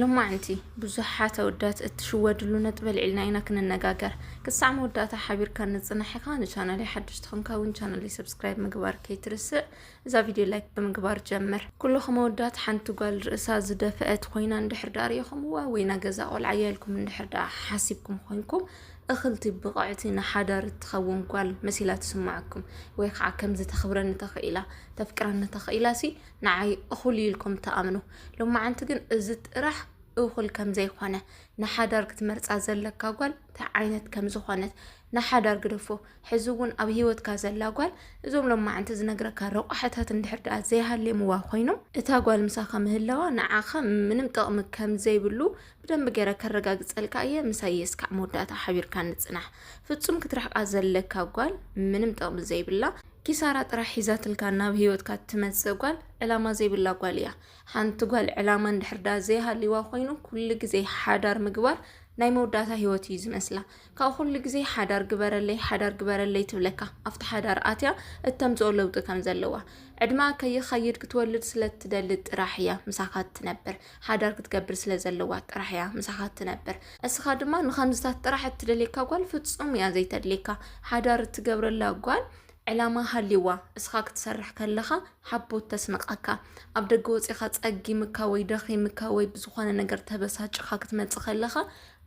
ሎማዕንቲ ብዙሓት ኣወዳት እትሽወድሉ ነጥቢ ኣልዒልና ኢና ክንነጋገር። ክሳዕ መወዳእታ ሓቢርካ ንጽናሕ ኢኻ። ንቻናለይ ሓድሽ ትኾንካ እውን ቻናለይ ሰብስክራይብ ምግባር ከይትርስዕ። እዛ ቪድዮ ላይክ ብምግባር ጀምር። ኩልኹም ኣወዳት ሓንቲ ጓል ርእሳ ዝደፍአት ኮይና እንድሕር ደኣ ርኢኹምዋ ወይ ናይ ገዛ ቆልዓ እያ ኢልኩም እንድሕር ደኣ ሓሲብኩም ኮይንኩም እኽልቲ ብቕዕቲ ንሓዳር እትኸውን ጓል መሲላ ትስምዓኩም ወይ ከዓ ከምዚ ተኽብረኒ ተኽኢላ ተፍቅረኒ ተኽኢላሲ ንዓይ እኹል እዩ ኢልኩም ትኣምኑ ሎማዓንቲ ግን እዚ ጥራሕ እኹል ከም ዘይኮነ ንሓዳር ክትመርፃ ዘለካ ጓል እንታይ ዓይነት ከም ዝኾነት ንሓዳር ግደፎ ሕዚ እውን ኣብ ሂወትካ ዘላ ጓል እዞም ሎማዓንቲ ዝነግረካ ረቋሕታት እንድሕር ድኣ ዘይሃልየምዋ ኮይኖም እታ ጓል ምሳኻ ምህላዋ ንዓኻ ምንም ጥቕሚ ከም ዘይብሉ ብደንቢ ገይረ ከረጋግፀልካ እየ ምሳይ እስካዕ መወዳእታ ሓቢርካ ንፅናሕ ፍፁም ክትርሕቃ ዘለካ ጓል ምንም ጥቕሚ ዘይብላ ኪሳራ ጥራሕ ሒዛትልካ ናብ ሂወትካ እትመጽእ ጓል ዕላማ ዘይብላ ጓል እያ። ሓንቲ ጓል ዕላማ እንድሕር ደኣ ዘይሃልይዋ ኮይኑ ኩሉ ግዜ ሓዳር ምግባር ናይ መወዳእታ ሂወት እዩ ዝመስላ። ካብ ኩሉ ግዜ ሓዳር ግበረለይ ሓዳር ግበረለይ ትብለካ ኣብቲ ሓዳር ኣትያ እተምጽኦ ለውጢ ከም ዘለዋ። ዕድመኣ ከይኸይድ ክትወልድ ስለ እትደሊ ጥራሕ እያ ምሳካ እትነብር። ሓዳር ክትገብር ስለ ዘለዋ ጥራሕ እያ ምሳኻ እትነብር። እስኻ ድማ ንኸምዝታት ጥራሕ እትደልየካ ጓል ፍጹም እያ ዘይተድልየካ። ሓዳር እትገብረላ ጓል ዕላማ ሃልዩዋ እስኻ ክትሰርሕ ከለኻ ሓቦት ተስንቐካ። ኣብ ደገ ወጺኻ ጸጊምካ ወይ ደኺምካ ወይ ብዝኾነ ነገር ተበሳጭኻ ክትመጽእ ከለኻ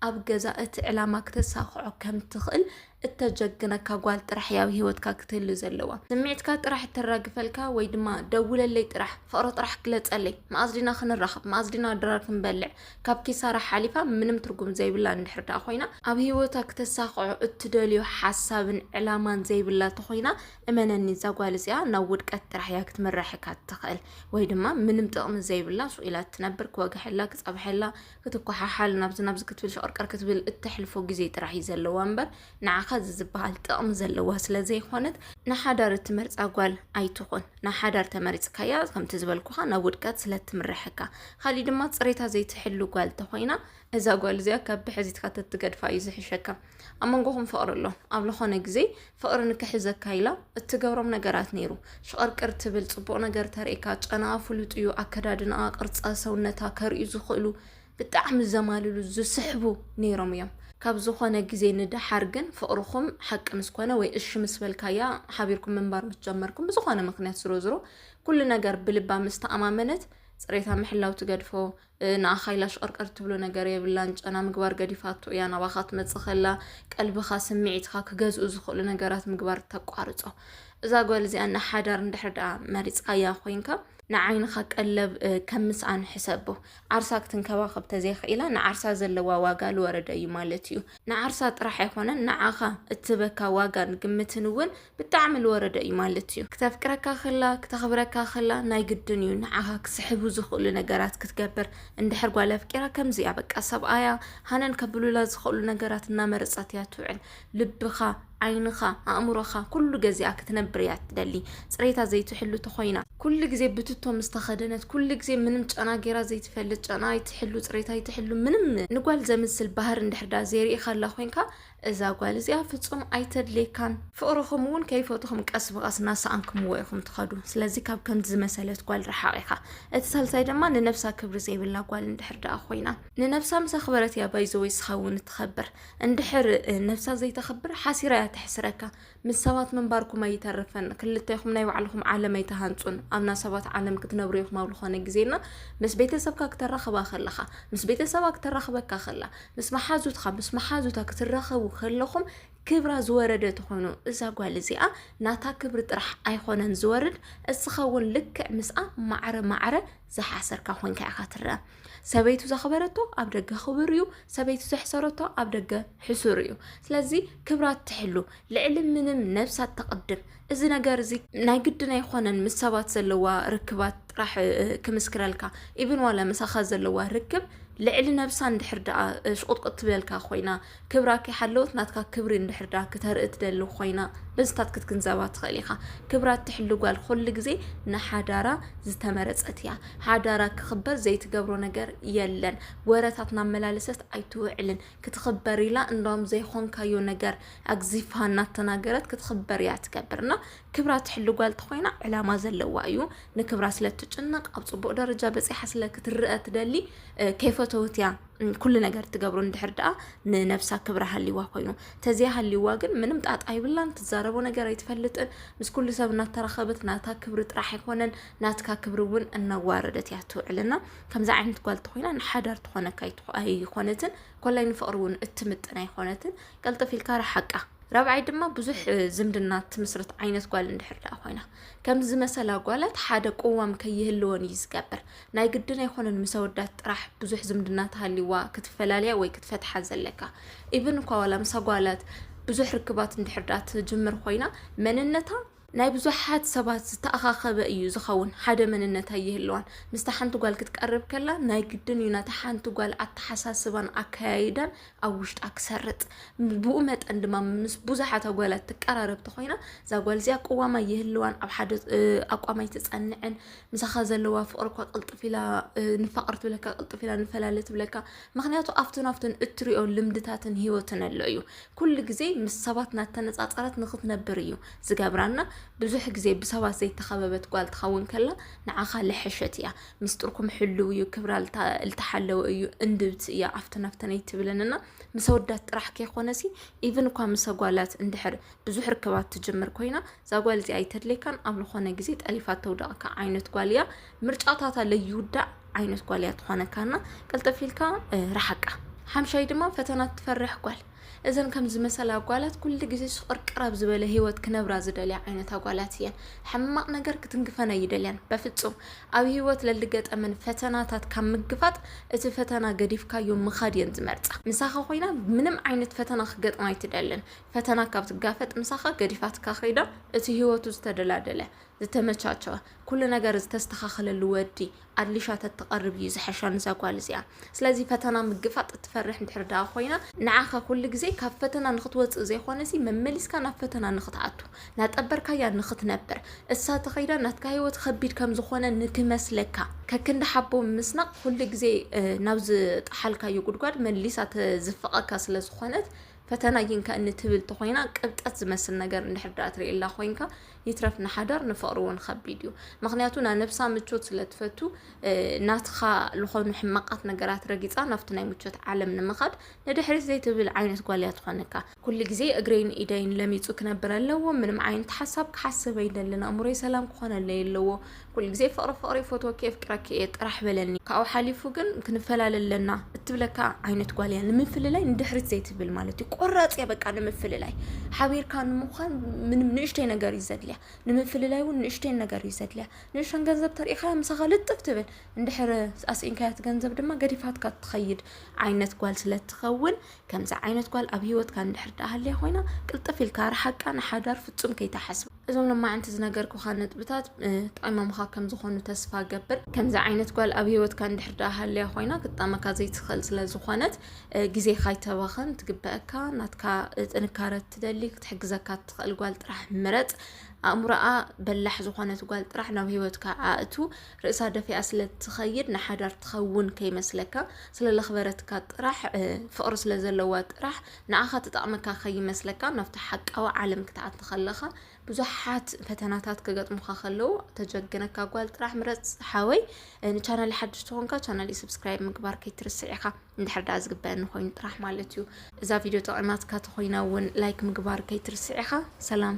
ኣብ ገዛ እቲ ዕላማ ክተሳኽዖ ከም እትኽእል እተጀግነካ ጓል ጥራሕ እያ ኣብ ሂወትካ ክትህሉ ዘለዋ ስምዒትካ ጥራሕ እተራግፈልካ ወይ ድማ ደውለለይ ጥራሕ ፍቕሪ ጥራሕ ግለጸለይ መኣዝ ዲና ክንራኸብ መኣዝ ዲና ድራር ክንበልዕ ካብ ኪሳራ ሓሊፋ ምንም ትርጉም ዘይብላ እንድሕር ደኣ ኮይና ኣብ ሂወታ ክተሳኽዖ እትደልዮ ሓሳብን ዕላማን ዘይብላ ተኾይና እመነኒ እዛ ጓል እዚኣ ናብ ውድቀት ጥራሕ እያ ክትምራሕካ እትኽእል ወይ ድማ ምንም ጥቕሚ ዘይብላ ሱቕ ኢላ እትነብር ክወግሐላ ክጸብሐላ ክትኳሓሓል ናብዚ ናብዚ ክትብል ሸቕርቀር ክትብል እተሕልፎ ግዜ ጥራሕ እዩ ዘለዋ እምበር ንዓኻ እዚ ዝበሃል ጥቕሚ ዘለዋ ስለዘይኾነት ንሓዳር እትመርጻ ጓል ኣይትኹን። ንሓዳር ተመሪጽካያ ከምቲ ዝበልኩኻ ናብ ውድቀት ስለእትምረሐካ። ካሊእ ድማ ጽሬታ ዘይትሕሉ ጓል ተኾይና እዛ ጓል እዚኣ ካብ ብሕዚትካ ተትገድፋ እዩ ዝሕሸካ። ኣብ መንጎኹም ፍቕሪ ኣሎ ኣብ ዝኾነ ግዜ ፍቕሪ ንክሕዘካ ኢላ እትገብሮም ነገራት ነይሩ ሽቕርቅር ትብል ፅቡቕ ነገር ተርእካ ጨናኣ ፍሉጥ እዩ ኣከዳድናኣ ቅርፃ ሰውነታ ከርእዩ ዝኽእሉ ብጣዕሚ ዘማልሉ ዝስሕቡ ነይሮም እዮም ካብ ዝኾነ ግዜ ንደሓር ግን ፍቕርኹም ሓቂ ምስ ኮነ ወይ እሺ ምስ በልካያ ሓቢርኩም ምንባር ምስ ጀመርኩም ብዝኾነ ምክንያት ዝሮ ዝሮ ኩሉ ነገር ብልባ ምስ ተኣማመነት ፅሬታ ምሕላው ትገድፎ ንኣኻ ኢላ ሽቅርቅር ትብሎ ነገር የብላን ጨና ምግባር ገዲፋቶ እያ ናባኻ ትመጽእ ከላ ቀልብኻ ስምዒትካ ክገዝኡ ዝኽእሉ ነገራት ምግባር ተቋርጾ እዛ ጓል እዚኣ ንሓዳር እንድሕር ደኣ መሪጽካያ ኮይንካ ንዓይንኻ ቀለብ ከም ምስኣን ሕሰቦ ዓርሳ ክትንከባኸብ ተዘይኽኢላ ንዓርሳ ዘለዋ ዋጋ ዝወረደ እዩ ማለት እዩ ንዓርሳ ጥራሕ ኣይኮነን ንዓኻ እትበካ ዋጋን ግምትን እውን ብጣዕሚ ልወረደ እዩ ማለት እዩ። ክተፍቅረካ ከላ ክተኽብረካ ከላ ናይ ግድን እዩ ንዓኻ ክስሕቡ ዝኽእሉ ነገራት ክትገብር። እንድሕር ጓል ኣፍቂራ ከምዚ እያ በቃ ሰብኣያ ሃነን ከብሉላ ዝኽእሉ ነገራት እናመረፀት እያ ትውዕል። ልብኻ፣ ዓይንኻ፣ ኣእምሮኻ ኩሉ ገዚኣ ክትነብር እያ ትደሊ። ፅሬታ ዘይትሕሉ ተኾይና፣ ኩሉ ግዜ ብትቶ ምስ ተኸደነት፣ ኩሉ ግዜ ምንም ጨና ገይራ ዘይትፈልጥ፣ ጨንኣ ኣይትሕሉ፣ ፅሬታ ኣይትሕሉ፣ ምንም ንጓል ዘምስል ባህሪ እንድሕር ደኣ ዘይርኢኻላ ኮይንካ፣ እዛ ጓል እዚኣ ፍጹም ኣይተድልየካን። ፍቕርኹም እውን ከይፈትኹም ቀስ ብቐስ እናሰኣንክምዎ ኢኹም ትኸዱ። ስለዚ ካብ ከምዚ ዝመሰለት ጓል ረሓቕ ኢኻ። እቲ ሳልሳይ ድማ ንነብሳ ክብሪ ዘይብላ ጓል እንድሕር ደኣ ኮይና። ንነብሳ ምስ ኣኽበረት እያ ባይዘወይ ስኻ እውን እትኸብር። እንድሕር ነብሳ ዘይተኽብር ሓሲራ እያ ተሕስረካ። ምስ ሰባት ምንባርኩም ኣይተርፍን ክልተ ኢኹም ናይ ባዕልኹም ዓለም ኣይትሃንጹን ኣብና ሰባት ዓለም ክትነብሩ ኢኹም ኣብ ዝኾነ ግዜና ምስ ቤተሰብካ ክተራኽባ ከለኻ ምስ ቤተሰባ ክተራኽበካ ከላ ምስ መሓዙትካ ምስ መሓዙታ ክትራኸቡ ከለኹም ክብራ ዝወረደ ትኾኑ እዛ ጓል እዚኣ ናታ ክብሪ ጥራሕ ኣይኮነን ዝወርድ እስኻ እውን ልክዕ ምስኣ ማዕረ ማዕረ ዝሓሰርካ ኮንካ ኢኻ ትረአ ሰበይቱ ዘኽበረቶ ኣብ ደገ ክቡር እዩ፣ ሰበይቱ ዘሕሰረቶ ኣብ ደገ ሕሱር እዩ። ስለዚ ክብራ ትሕሉ፣ ልዕሊ ምንም ነብሳ ተቕድም። እዚ ነገር እዚ ናይ ግድን ኣይኮነን ምስ ሰባት ዘለዋ ርክባት ጥራሕ ክምስክረልካ ኢብን ዋላ ምሳኻ ዘለዋ ርክብ ልዕሊ ነብሳ እንድሕር ደኣ ሽቁጥቁጥ ትብለልካ ኮይና ክብራ ከይሓለወት ናትካ ክብሪ እንድሕር ድኣ ክተርኢ ትደሊ ኮይና በዚታት ክትግንዘባ ትኽእል ኢኻ። ክብራ እትሕሉ ጓል ኹሉ ግዜ ንሓዳራ ዝተመረጸት እያ። ሓዳራ ክኽበር ዘይትገብሮ ነገር የለን። ወረታት እናመላለሰት ኣይትውዕልን። ክትኽበር ኢላ እንደውም ዘይኾንካዮ ነገር ኣግዚፋ እናተናገረት ክትኽበር እያ ትገብር እና ክብራ እትሕሉ ጓል ተኾይና ዕላማ ዘለዋ እዩ። ንክብራ ስለ እትጭነቕ ኣብ ጽቡቕ ደረጃ በጺሓ ስለ ክትረኣ ትደሊ ከይፈተወት እያ ኩሉ ነገር ትገብሮ እንድሕር ደኣ ንነብሳ ክብሪ ሃልይዋ ኮይኑ ተዘይ ሃልይዋ ግን ምንም ጣጣ ይብላን ትዛረቦ ነገር ኣይትፈልጥን ምስ ኩሉ ሰብ እናተራኸበት ናታ ክብሪ ጥራሕ ኣይኮነን ናትካ ክብሪ እውን እናዋረደት እያ ትውዕልና ከምዚ ዓይነት ጓል ተኮይና ንሓዳር ትኾነካ ኣይኮነትን ኮላይ ንፍቅሪ እውን እትምጥን ኣይኮነትን ቀልጥፍ ኢልካ ረሓቃ ራብዓይ ድማ ብዙሕ ዝምድና ትምስርት ዓይነት ጓል እንድሕር ደኣ ኮይና ከምዚ መሰላ ጓላት ሓደ ቅዋም ከይህልወን እዩ ዝገብር ናይ ግድን ኣይኮነን ምስ ኣወዳት ጥራሕ ብዙሕ ዝምድና ተሃልይዋ ክትፈላልያ ወይ ክትፈትሓ ዘለካ ኢቭን እኳ ዋላ ምስ ኣጓላት ብዙሕ ርክባት እንድሕር ድኣ ትጅምር ኮይና መንነታ ናይ ብዙሓት ሰባት ዝተኣኻኸበ እዩ ዝኸውን ሓደ መንነት ኣይህልዋን ምስታ ሓንቲ ጓል ክትቀርብ ከላ ናይ ግድን እዩ ናታ ሓንቲ ጓል ኣተሓሳስባን ኣከያይዳን ኣብ ውሽጣ ክሰርጥ ብኡ መጠን ድማ ምስ ብዙሓት ኣጓላት ትቀራረብቲ ኮይና እዛ ጓል እዚኣ ቅዋማ ይህልዋን ኣብ ሓደ ኣቋማይ ትፀንዕን ምሳኻ ዘለዋ ፍቕሪ እኳ ቅልጥፍ ኢላ ንፋቐር ትብለካ ቅልጥፍ ኢላ ንፈላለ ትብለካ ምክንያቱ ኣብቱን ኣብቱን እትሪኦ ልምድታትን ሂወትን ኣሎ እዩ ኩሉ ግዜ ምስ ሰባት ናተነፃፀረት ንክትነብር እዩ ዝገብራና ብዙሕ ግዜ ብሰባት ዘይተኸበበት ጓል ትኸውን ከላ ንዓኻ ልሐሸት እያ ሚስጥርኩም ሕልው እዩ ክብራ ልተሓለወ እዩ እንድብቲ እያ ኣብቱን ኣብተን ኣይትብለንና ምስ ኣወዳት ጥራሕ ከይኮነሲ ኢቭን እኳ ምስ ኣጓላት እንድሕር ብዙሕ ርክባት ትጅምር ኮይና እዛ ጓል እዚኣ ኣይተድለይካን ኣብ ዝኾነ ግዜ ጠሊፋ ተውደቕካ ዓይነት ጓል እያ ምርጫታታ ለይውዳእ ዓይነት ጓል እያ ትኾነካና ቅልጥፍ ኢልካ ረሓቃ ሓምሻይ ድማ ፈተና ትፈርሕ ጓል እዘን ከም ዝመሰላ ጓላት ኩሉ ግዜ ሽቕርቅር ኣብ ዝበለ ህይወት ክነብራ ዝደልያ ዓይነት ኣጓላት እየን ሕማቕ ነገር ክትንግፈን ኣይደልያን በፍጹም ኣብ ህይወት ለልገጠመን ፈተናታት ካብ ምግፋጥ እቲ ፈተና ገዲፍካዮ ምኻድ እየን ዝመርጻ ምሳኻ ኮይና ምንም ዓይነት ፈተና ክገጥማ ኣይትደልን ፈተና ካብ ትጋፈጥ ምሳኻ ገዲፋትካ ከይዳ እቲ ህይወቱ ዝተደላደለ ዝተመቻቸወ ኩሉ ነገር ዝተስተኻኸለሉ ወዲ ኣድሊሻ ተትቐርብ እዩ ዝሐሻ ንዛ ጓል እዚኣ። ስለዚ ፈተና ምግፋጥ እትፈርሕ እንድሕር ደኣ ኮይና ንዓኻ ኩሉ ግዜ ካብ ፈተና ንኽትወፅእ ዘይኾነሲ መመሊስካ ናብ ፈተና ንኽትኣቱ ናጠበርካያ ንኽትነብር እሳ ተኸይዳ ናትካ ህይወት ኸቢድ ከም ዝኾነ ንክመስለካ ከክንዲ ሓቦ ምስናቕ ኩሉ ግዜ ናብ ዝጠሓልካዮ ጉድጓድ መሊሳ ተዝፍቐካ ስለ ዝኾነት ፈተና ይንካእኒ ትብል ተኾይና ቅብጠት ዝመስል ነገር እንድሕር ድኣ ትርእየላ ኮይንካ ይትረፍ ንሓዳር ንፍቕሪ እውን ኸቢድ እዩ ምክንያቱ ናይ ነብሳ ምቾት ስለ ትፈቱ ናትኻ ዝኾኑ ሕማቃት ነገራት ረጊጻ ናብቲ ናይ ምቾት ዓለም ንምኻድ ንድሕሪት ዘይትብል ዓይነት ጓል እያ ትኾነካ ኩሉ ግዜ እግረይን ኢደይን ለሚጹ ክነብር ኣለዎ ምንም ዓይነት ሓሳብ ክሓስብ ኣይደልን ኣእምሮይ ሰላም ክኾነለይ ኣለዎ ኩሉ ግዜ ፍቕሪ ፍቕሪ ይፈትወኪ የፍቅረኪ እየ ጥራሕ በለኒ ካብኡ ሓሊፉ ግን ክንፈላለ ኣለና እትብለካ ዓይነት ጓል እያ ንምፍልላይ ንድሕሪት ዘይትብል ማለት እዩ ቆራፅ እያ በቃ ንምፍልላይ ሓቢርካ ንምዃን ምንም ንእሽተይ ነገር እዩ ዘድልያ ንምፍልላይ እውን ንእሽተይን ነገር እዩ ዘድልያ ንእሽተን ገንዘብ ተሪኢኻያ ምሳኻ ልጥፍ ትብል እንድሕር ኣስኢንካያት ገንዘብ ድማ ገዲፋትካ ትኸይድ ዓይነት ጓል ስለትኸውን ከምዚ ዓይነት ጓል ኣብ ሂወትካ እንድሕር ዳሃልያ ኮይና ቅልጥፍ ኢልካ ርሓቃ ንሓዳር ፍፁም ከይተሓስብ እዞም ሎማዕንቲ ዝነገርኩኻ ነጥብታት ጠቂሞምኻ ከም ዝኾኑ ተስፋ ገብር። ከምዚ ዓይነት ጓል ኣብ ሂወትካ እንድሕር ደኣ ሃልያ ኮይና ክትጠመካ ዘይትኽእል ስለ ዝኾነት ግዜኻ ኣይተባኽን፣ ትግበኣካ ናትካ ጥንካረ እትደሊ ክትሕግዘካ እትኽእል ጓል ጥራሕ ምረጽ፣ ኣእምሮኣ በላሕ ዝኾነት ጓል ጥራሕ ናብ ሂወትካ ኣእቱ፣ ርእሳ ደፊኣ ስለ እትኸይድ ንሓዳር ትኸውን ከይመስለካ፣ ስለ ለኽበረትካ ጥራሕ ፍቅሪ ስለ ዘለዋ ጥራሕ፣ ንኣኻ ትጠቕመካ ከይመስለካ ናብቲ ሓቃዊ ዓለም ክትኣቲ ከለኻ ብዙሓት ፈተናታት ክገጥሙኻ ከለዉ ተጀግነካ ጓል ጥራሕ ምረፅ ሓወይ ንቻናል ሓድሽ ትኾንካ ቻናል ሰብስክራይብ ምግባር ከይትርስዕ ኢኻ እንድሕር ዳኣ ዝግበአኒ ኮይኑ ጥራሕ ማለት እዩ እዛ ቪድዮ ጠቂማትካ ተኾይና እውን ላይክ ምግባር ከይትርስዕ ኢኻ ሰላም